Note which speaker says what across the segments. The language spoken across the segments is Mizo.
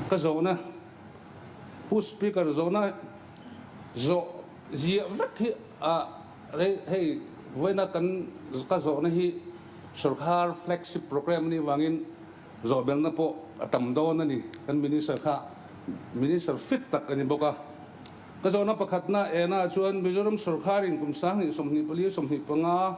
Speaker 1: Ka zawhna, Pu Speaker zawhna zawh ziah vek hi a rei hei vawiina kan ka zawhna hi sorkar flagship programme a nih vangin zawhbelna pawh a tam dawn a ni. Kan Minister kha Minister fit tak a ni bawk a. Ka zawhna pakhatna ena chuan Mizoram sorkarin kum sang hnih sawmhnih pali sawmhnih panga,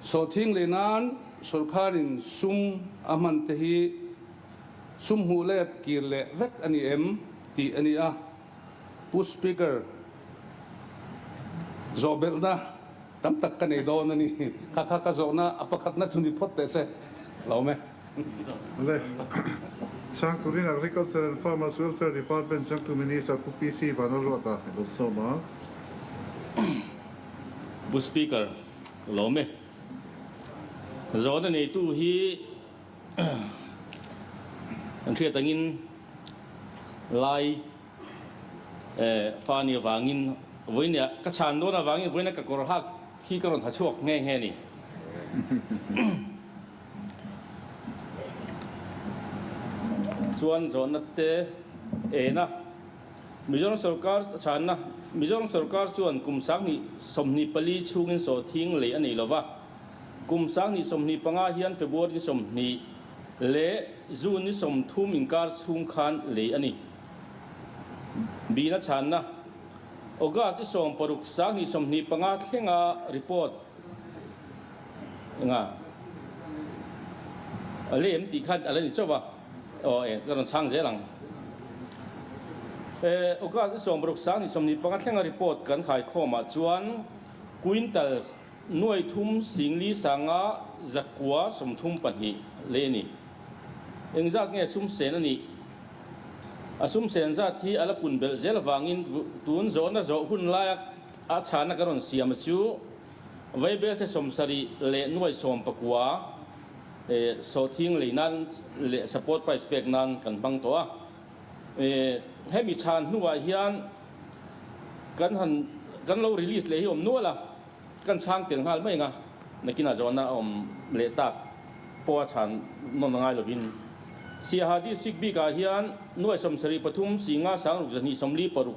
Speaker 1: Saw thing leh nan sorkarin sum a hman te hi sum hmuh let kir leh vek a ni em? tih a ni a. Pu Speaker, zawhbelhna tam tak ka nei dawn a ni. Kha kha ka zawhna a pakhatna chu ni phawt teh se lo me. Vale. Chhang turin Agriculture and Farmers Welfare Department Changtu Minister Pu PC Vanlalruata i bawlhsawm a. Pu Speaker, Lawm e. Zawhna neitu hi an hriat angin Lai Fani avangin vawinia ka chhan dawn avangin vawinia ka kawr hak hi ka rawn ha chhuak nghe nghe ni. Chuan zawhna te ena. Mizoram sorkar chhanna, Mizoram sorkar chuan kum sanghni sawmhnih pali chhungin sawhthing lei a nei lo va, kum sanghni sawmhnih panga hian February ni sawmhnih leh June ni sawmthum inkar chhung khan lei a ni. Bina chhanna, August ni sawm paruk sanghnih sawmhnih panga thlenga report enga lem tih khan a la ni chauh va, Aw e, ka rawn chhang zel ang. E, August i sawmruk sang ni sawmni panga thlenga report kan haikhawmah chuan quintals nuai thum singli sanga zakua sawmthum pahnih leh a ni. Engzat nge sum sen a nih? A sum sen zat hi a la pun belh zel avangin tun zawhna zawh hun laia a chhana kan rawn siam a chu, Vaibelchhe sawmsarih leh nuai sawmpakua Sawthing lei nan leh support price pek nan kan hmang tawh a, hemi chhan hnuah hian kan han kan lo release leh hi awm nual a, kan chhang tel nghal mai anga nakin a zawn a awm leh tak pawha chhan nawn angai lovin Siaha District bik ah hian nuaisawm sarih pathum, singa sangruk zahnih sawmli paruk,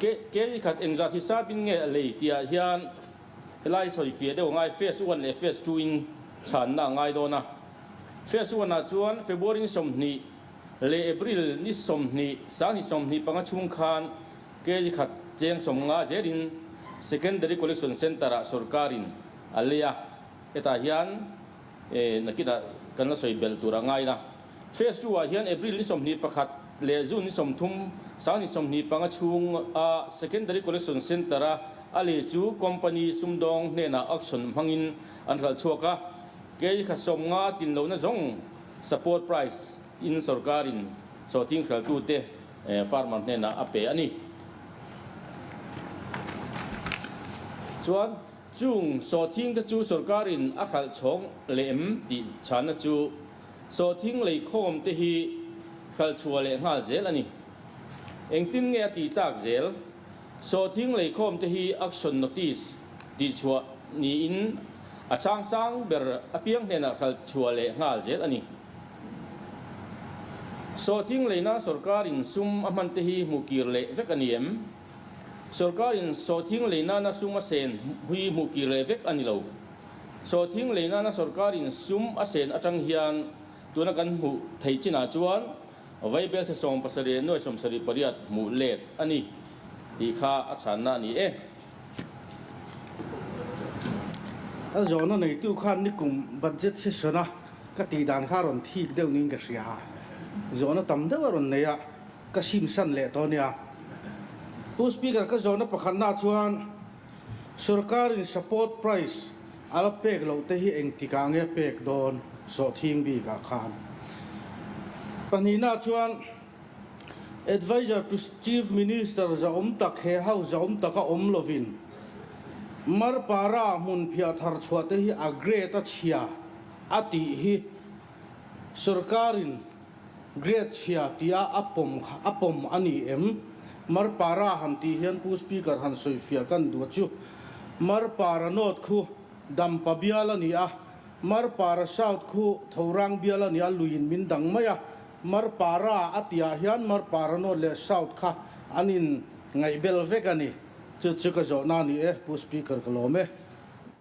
Speaker 1: Ke ni khat eng zat hi sap in nge a lei tihah hian helai sawi fia deuh ngai Phase one leh Phase two in chhanna a ngai dawn a. Phase one ah chuan February ni sawmhnih leh April ni sawmhnih, Sang ni sawmhnih panga chhung khan ke ni khat cheng sawm nga zel in Secondary Collection Centre ah sorkar in a lei a. Hetah hian. E nakinah kan la sawi bel tur a ngai la. Phase two ah hian April ni sawmhnih pakhat leh June ni sawmthum sang ni sawmhnih panga chhung a Secondary Collection Centre a a leh chu company sumdawng hnenah auction hmangin an hlal chhuak a, kei kha sawm nga tin lohna zawng support price in sawrkarin saw thing hraltu te farmer hnenah a pe a ni. Chuan. Chung saw thing te chu sorkar in a khalh chhawng leh em tih chhana chu saw thing lei khawm te hi hral chhuah leh nghal zel a ni. Engtin nge a ti tak zel? Saw thing lei khawm te hi action notice tih chhuah niin a chang sang ber a piang hnenah hral chhuah leh nghal zel a ni. Saw thing lei nan sorkar in sum a hman te hi hmu kir leh vek a ni em? Sorkarin sawthing lei nana sum a sen hi hmuh kir leh vek a ni lo. Sawthing lei nana sorkarin sum a sen atang hian tuna kan hmuh theih chinah chuan vai belsa sawm pasarih leh nuai sawm sarih pariat hmuh let a ni tih kha a chhanna a ni e. A zawhna neitu khan nikum budget session-a ka tih dan kha a rawn thik deuh niin ka hria a, zawhna tam deuh a rawn nei a. Ka hrimhran leh tawh a nia. Pu Speaker ka zawhna pakhatnaah chuan sorkarin support price a la pek loh te hi engtikah ange a pek dawn sawhthing bikah khan? Pahnihnaah chuan Advisor to Chief Minister zahawm tak he ho zahawm taka awm lovin mar para hmun phiah thar chhuah te hi a grade a chhia a tih hi sorkarin Grade chhia tia a pawm kha a pawm a ni em? Mar para han tih hian Pu Speaker han sawi fiah ka ni duh chu. Mar para North khu dampa bial a ni a, Mar para South khu thorang bial a ni a, lui in min dang mai a. Mar para a tih ah hian Mar para North leh South kha an in ngaih bel vek a ni. Chu chu ka zawhna a ni e, Pu Speaker ka lawm e.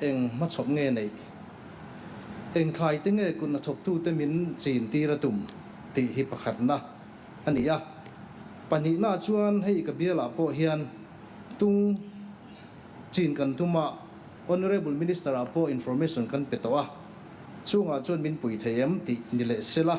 Speaker 1: Eng hmachhawp nge neih? Eng thlai te nge kunna thawktute min chin tir a tum? tih hi pakhatna a ni a. Pahnihnah chuan hei ka bialah pawh hian tung chin kan tum a, Honourable Minister-ah pawh information kan pe tawh a, chungah chuan min pui thei em tih ni leh sela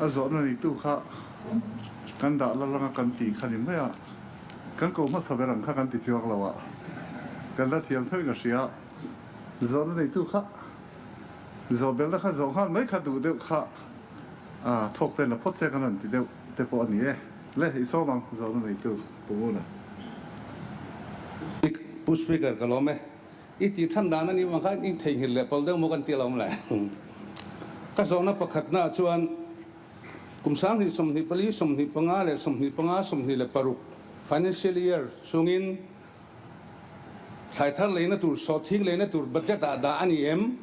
Speaker 1: A zawhna neitu kha kan dah la langa kan tih kha ni mai a, kan ko hmasa ber ang kha kan ti chuak lo a, kan la thiam thawih ka hria. Zawhna neitu kha zawhbelna kha zawh nghal mai kha duh deuh kha a thawk ten la phawt che ka rawn ti deuh te pawh a ni e. Le i sawm ang zawhna neitu Pumuna. Speaker, Pu Speaker ka lawm e. I tih than dan a nih vang khan in theihnghilh leh pal deuh maw kan tih alawm le. Ka zawhna pakhat hnaah chuan kum sanghnih, sawmhnih pali, sawmhnih panga leh sawmhnih panga, sawmhnih leh paruk, financial year, chungin thlaitar leina tur, sawhthing leina tur budget ah dah a ni em?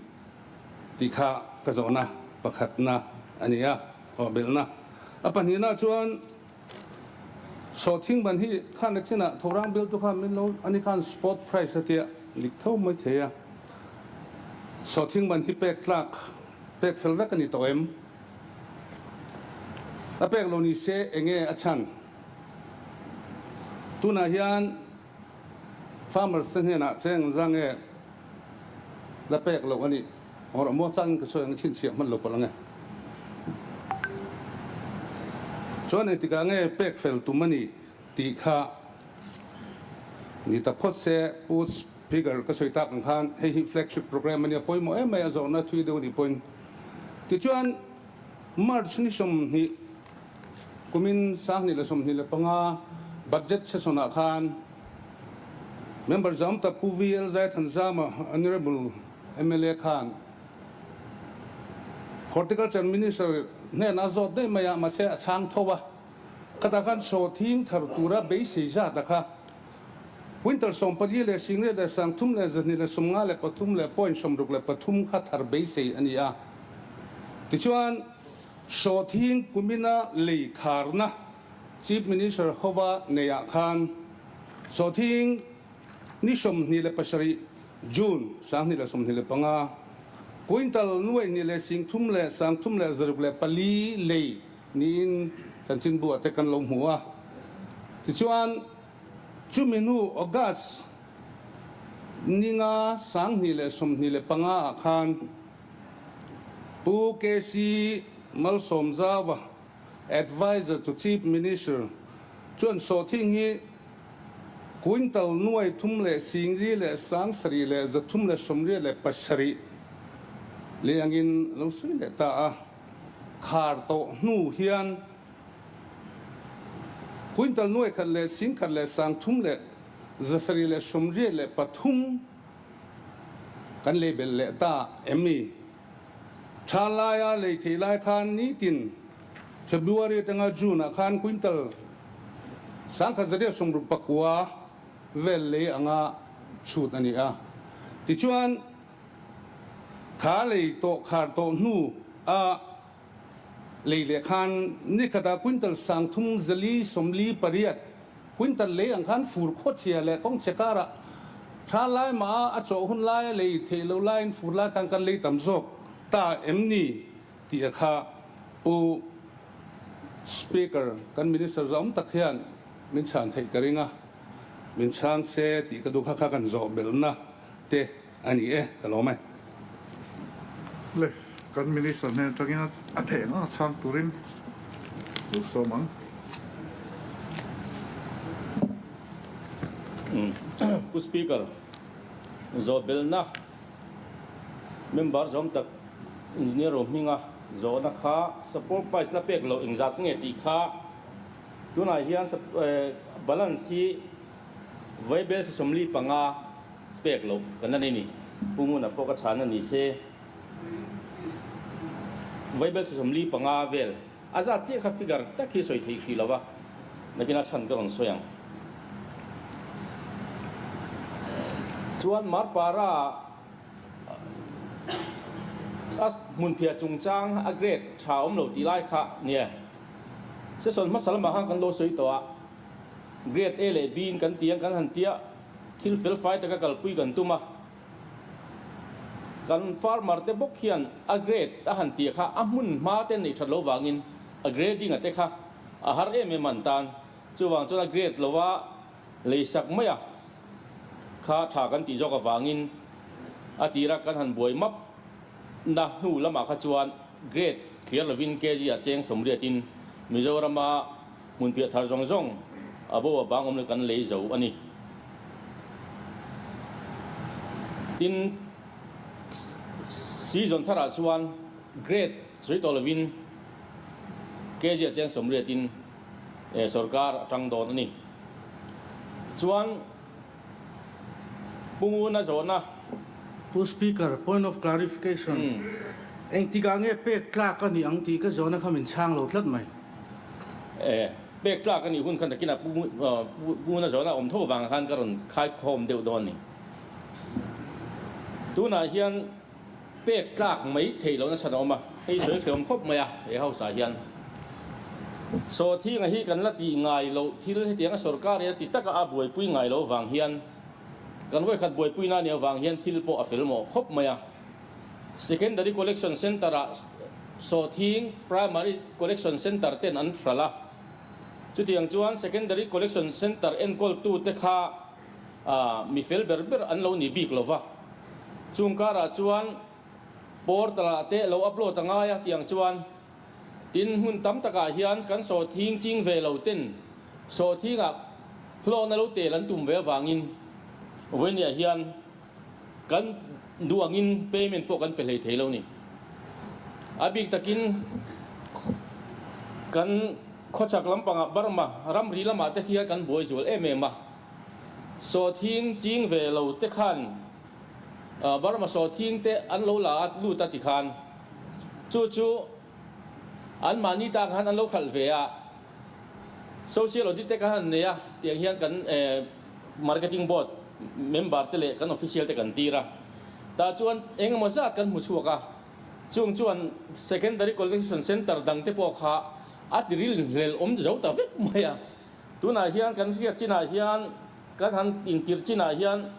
Speaker 1: tih kha ka zawhna pakhatna a ni a, thawhbelhna. A pahnihna chuan. Sawhthing ban hi khan a chinah thawrang beltu khan min lo a ni khan spot price a tia dik tho mai thei a. Sawhthing ban hi pek tlak pek fel vek a ni tawh em? A pek lo ni se enge a chhan? Tunah hian. Farmers te hnenah cheng zang nge la pek loh a nih or maw changin ka sawi ang i chhinchhiah hman lo palh ang e. Chuan hei tikah nge pek fel tum a ni tih kha ni ta phawt se Poots figure ka sawi tak ang khan hei hi flagship programme a nia pawimawh em mai a zawrhna thui deuh a nih pawhin. Tichuan March ni sawm hnih. Kumin sanghnih leh sawmhnih leh panga budget session ah khan member zawm tak Pu VL Zaithan Zama Honourable mla khan Horticulture Minister hnenah a zawt daih mai a, mahse a chhang tho a, khatah khan chaw thing thar tura beisei zat a kha Winter sawm pali leh Singlet leh Sangthum leh Zahnih leh Sawmnga leh Pathum leh Point sawmruk leh pathum kha thar beisei a ni a. Tichuan. Hrawthing kumina lei kharna Chief Minister Hova neiah khan Hrawthing ni sawmhnih leh pasarih, June, sanghnih leh sawmhnih leh panga, Kuintal, nuaihnih leh singthum leh sangthum leh zaruk leh pali lei niin chanchin buah te kan lo hmu a. Tichuan, chumi hnu August ninga sanghnih leh sawmhnih leh panga ah khan, Pu KC Malsawmzava, Advisor to Chief Minister, chuan sawhthing hi Quintal nuai thum leh singri leh sang sarih leh za thum leh sawmriat leh pasarih leh angin lo sawi leh ta a, khar tawh hnu hian Quintal nuai khat leh sing khat leh sang thum leh za sarih leh sawmriat leh pathum Kan lei belh leh ta em ni? Ṭha laia lei theih lai khan nitin February atanga June ah khan quintal sangkhat zaria sawmruk pakua vel lei anga chhut a ni a. Tichuan, tha lei tawh khar tawh hnu a. Lei leh khan ni khatah quintal sang thum zali sawmli pariat, quintal lei ang khan fur khawchhia leh kawng che karah thla lai maha a chawh hun laia lei theih loh laiin fur lai khan kan lei tam zawk ta em ni? tia kha Pu Speaker kan Minister zaawm tak hian min chhan theih ka ring a, min chhang se tih ka duh kha kha kan zawh melh na te. A ni e, ka lawm e. Le, kan Minister hnen atangin a theh ngang a chhang turin u sawm ang. Pu Speaker, Zawhbelna Member zawm tak Engineer Ru Hminga zawhna kha Support Price la pek lo eng zat nge tih kha tunah hian Balance hi Vaibel Sisawmli panga, Pek loh ka la nei ni. Pu Nguna pawh ka chhahna ni se. Vaibel chhawsawm li panga vel a zat chiah kha figure tak hi sawi thei hrilo a, nakina chhan ka rawn sawi ang. Chuan Mar Para a hmunphia chungchang a grade tha awm lo tih lai kha nia, session hmasa lamah khan kan lo sawi tawh a, grade A leh B in kan ti ang kan han tia Thil felfai taka kalpui kan tum a, kan farmer te bawk hian a grade a han tih kha a hmun hma te neih that lo vangin a grading a te kha a har em em a an tan. Chuvang chuan a grade lova lei sak mai a kha tha kan tih zawk avangin a tira kan han buai map na hnu lamah kha chuan grade thliar lovin kg ah cheng sawmriatin Mizorama Hmun piah thar zawng zawng a bo a bangawm le kan lei zo a ni. Tin, season thar ah chuan grade sawi tawh lovin kg a cheng sawmriat in sorkar a tang dawn a ni. Chuan Pungun a zawn a. Pu Speaker, point of clarification, engtikah nge pek tlak a nih ang tih ka zawna kha min chhang lo tlat mai. E, pek tlak a nih hun kha nakinah Pungun a zawn a awm tho vang khan ka rawn khaikhawm deuh dawn a ni. Tunah hian. pek tlak mai thei lohna chhan a awm a, hei sawi thei awm khawp mai a, he hausa hian Sawthinga hi kan la tih ngai loh thil hetianga sorkar ina ti taka a buaipui ngai lo vang hian kan vawikhat buaipuina a nih avang hian thil pawh a fel mawh khawp mai a, Secondary Collection Centre ah Sawthing Primary Collection Centre ten an hral a, chutiang chuan Secondary Collection Centre enkawltute kha. ah mi fel ber ber an lo ni bik lo va, chung karah chuan portal ah te lo upload a ngai a tiang chuan tin hmun tam takah hian kan sawhthing ching ve lo ten sawhthingah hlawhna lo tel an tum ve avangin vawinia hian Kan duh angin payment pawh kan pe hlei thei lo ni. A bik takin kan khawchhak lampangah Burma ramri lamah te khian kan buai zual em em a. Sawthing ching ve lo te khan Burma sawthing te an lo la a lut a ti khan chu chu anmahni tan khan an lo hralh ve a. Social audit te khan an nei a, tiang hian kan Marketing Board member te leh kan official te kan tir a. Tah chuan engemaw zat kan hmu chhuak a, chung chuan Secondary Collection Centre dang te pawh kha a tiril hlel awm zo ta vek mai a. Tunah hian kan hriat chinah hian, kan han intir chinah hian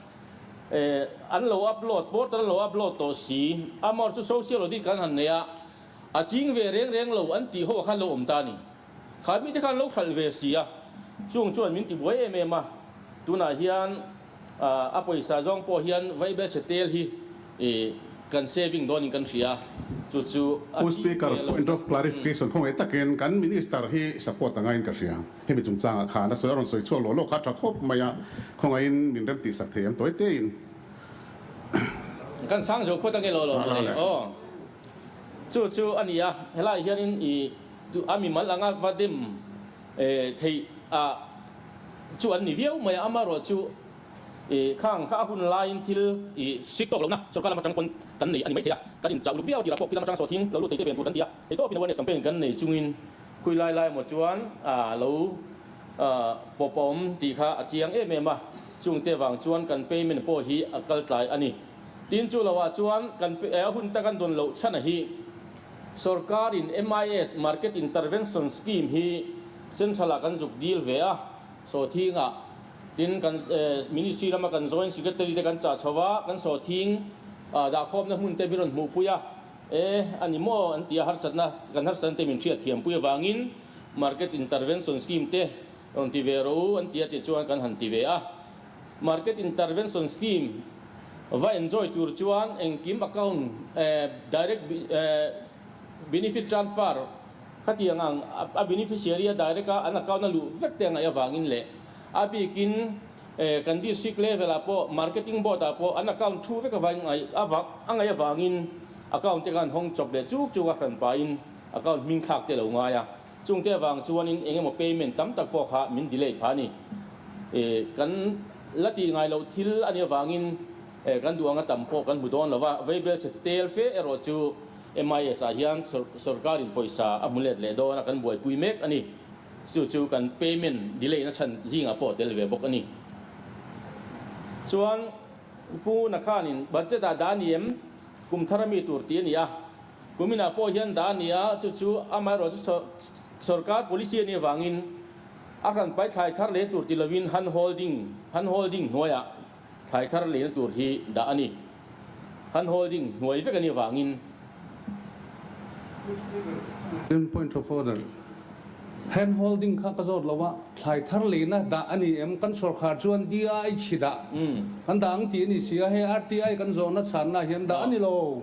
Speaker 1: an lo upload, portal an lo upload tawh si. Amaw chu social audit kan han nei a. A ching ve reng reng lo an tih ho a khan lo awm ta a ni. Khar mite khan an lo khalh ve si a, chung chuan min ti buai em em a, tunah hian a pawisa zawng pawh hian Vaibelchhe tel hi kan saving dawn in kan hria a, chu chu a Pu ching Speaker, ve lo point of clarification, khawngei takin kan Minister hi support anga in ka hria, hemi chungchangah khan a sawi a rawn sawi chhuak loh loh kha a tha khawp mai a, khawngaihin min remtihsak thei em tawi tein. Kan sang zo khuat a nge lo lo mawni aw. Chu chu a ni a, helai hianin i tu a mimal anga va dem theih a chu an ni viau mai a, amarawh chu i khang kha a hun laiin thil i hrik tawk lohna sorkar lam atang pawn kan nei a ni maithei a, kan inchah uluk viau tirah pawh khi lam atang saw thing lo lut theite ve an tur kan ti a, eitur pawhin awareness campaign kan nei chungin khui lai lai maw chuan a lo pawp a awm tih kha a chiang em em a, chungte vang chuan kan payment pawh hi a kal tlai a ni. Tin, chu lo ah chuan kan a hun ta kan dawn loh chhan a hi sorkar in MIS, Market Intervention Scheme, hi central ah kan zuk dil ve a, sawthing ah. Tin, kan ministry lama kan joint secretary te kan chah chho a, kan sawthing dah khawmna hmun te min rawn hmuh pui a, e a ni maw an tia harsatna kan harsatna te min hriat thiam pui avangin Market Intervention Scheme te rawn ti ve ro u an tia tih chuan kan han ti ve a. Market Intervention Scheme va enjoy tur chuan engkim account direct benefit transfer khatiang ang a beneficiary a direct a an account a luh vek te a ngaih avangin leh a bikin kan district level ah pawh marketing board ah pawh an account thu vek avangin a ngaih avangin account te khan hawng chawp leh chuk chuk a hran pahin account hmingthlak te a lo ngai a. Chungte avang chuanin eng emaw payment tam tak pawh kha min delay pha a ni. Kan la tih ngai loh thil a nih avangin kan duh ang a tam pawh kan hmu dawn lo a. Vaibel chhe tel fe erawh chu MIS ah hian sawrkarin pawisa a hmu let leh dawna kan buaipui mek a ni. Chu chu kan payment delay na chhan zingah pawh a tel ve bawk a ni. Chuan Pu Nakhanin budget ah dah a ni em? Kum thar a mi tur tih a ni a, Kuminah pawh hian da a ni a, chu chu amaherawh chu sawr sawrkar policy a nih avangin a han paithlai thar leh tur tih lovin han hawl ding han hawl ding hnuaiah thlai thar lehna tur hi da a ni. Han hawl ding hnuai vek a nih avangin. Mr Speaker, Again point of order. Han hawl ding kha ka zawt lo a, thlai thar lehna da a ni em? Kan sawrkar chuan DIH dah kan da ang tih a ni si a, hei RTI kan zawhna chhanna ah hian da a ni lo.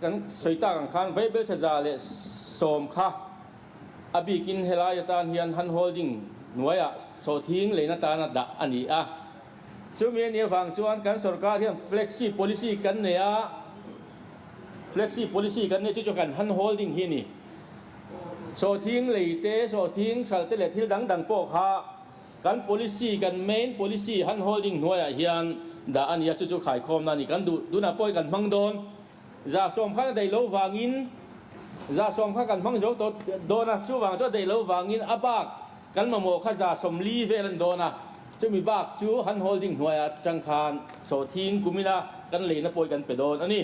Speaker 1: Kan sawi tak ang khan vei belcheza leh sawm kha a bikin helai atan hian han hawl ding hnuaiah sawthing lein atan a dah a ni a. Chumi a nih avang chuan kan sorkar hian flexi policy kan nei a, flexi policy kan nei chu chu kan han hawl ding hi a ni. Sawthing lei te, sawthing hral te leh thil dang dang pawh kha Kan policy, kan main policy han hawl ding hnuaiah hian dah a nia, chu chu khaikhawmna a ni. Kan duh tunah pawi kan hmang dawn. Zahsawm khan a daih lo vangin, Zahsawm khan kan hmang zo tawh dawn a, chuvang chu a daih lo vangin a bak kan mamawh kha Zahsawm li vel a ni dawn a. Chumi bak chu han hawl ding hnuaiah atang khan sawthiin kumina kan leina pawi kan pe dawn a ni.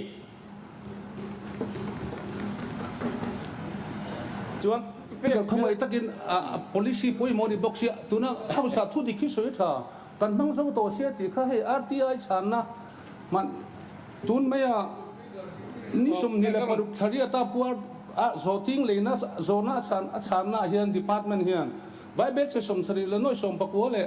Speaker 1: Chuan Peter khawmai takin policy pawimawh a ni bawk sia, tuna hausa thu dik hi sawi tha kan hmang zo tawh sia tih kha hei RTI chhanna hman tun maia ni sum ni leh paruk thla riata puar a zawhting leina zawhna a chhanna ah hian department hian vai bel chhe sawmthlarih leh nawih sawmpakua leh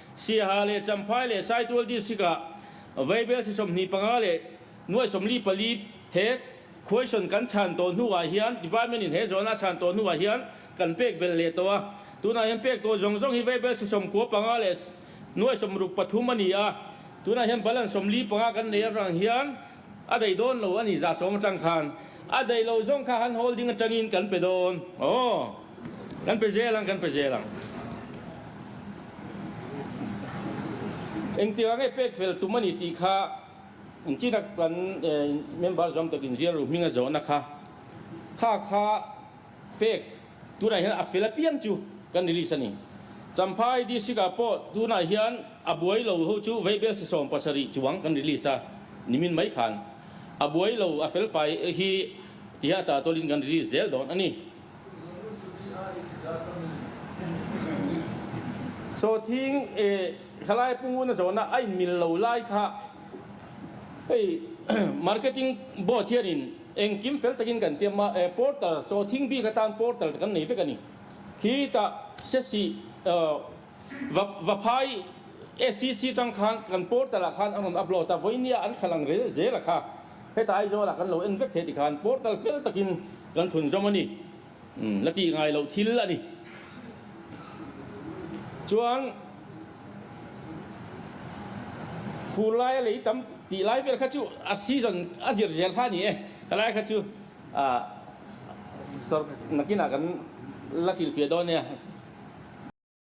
Speaker 1: Siaha leh Champhai leh Saitual District ah Vaibel sisawmhnih panga leh nuai sawmli pali he khuaisawn kan chhan tawh hnu ah hian Department in he zawn a chhan tawh hnu ah hian kan pek belh leh tawh a. Tunah hian pek tawh zawng zawng hi Vaibel sisawm khua panga leh nuai sawm ruk pathum a ni a. Tunah hian Balan sawmli panga kan nei atrang hian A dei dawn lo a nih zah sawm atang khan a dei lo zawng kha han hawl ding atangin kan pe dawn aw kan pe zel ang kan pe zel ang engtirah nge pek fel tum a nih tih kha inchina kan member zawm takin zir ru hming a zawhna kha kha kha Pek, tunah hian a fel apiang chu kan release a ni. Champhai District ah pawh tunah hian a buai lo ho chu Veibel Sisawm pasarih chuang kan release a, nimin mai khan a buai lo a fel fai hi ti hian a ta tawlhin kan release zel dawn a ni. Sawthing e Hlalai Punguna zawhna a inmil lo lai kha hei Marketing Board hianin Engkim fel takin kan tiam a, eh portal chaw thing bik atan portal te kan nei vek a ni. Khi ta se si va va phai SCC tang khan kan portal ah khan an rawn upload a, vawinia an thal ang rel zel a kha. Heta Aizawl ah kan lo en vek thei ti khan portal fel takin kan thlun zawm a ni. La tih ngai loh thil a ni. Chuan fur laia lei tam tih lai vel kha chu a season a zir zel kha a ni e. Ka lai kha chu sawrkar nakinah kan la hrilhfiah dawn nia.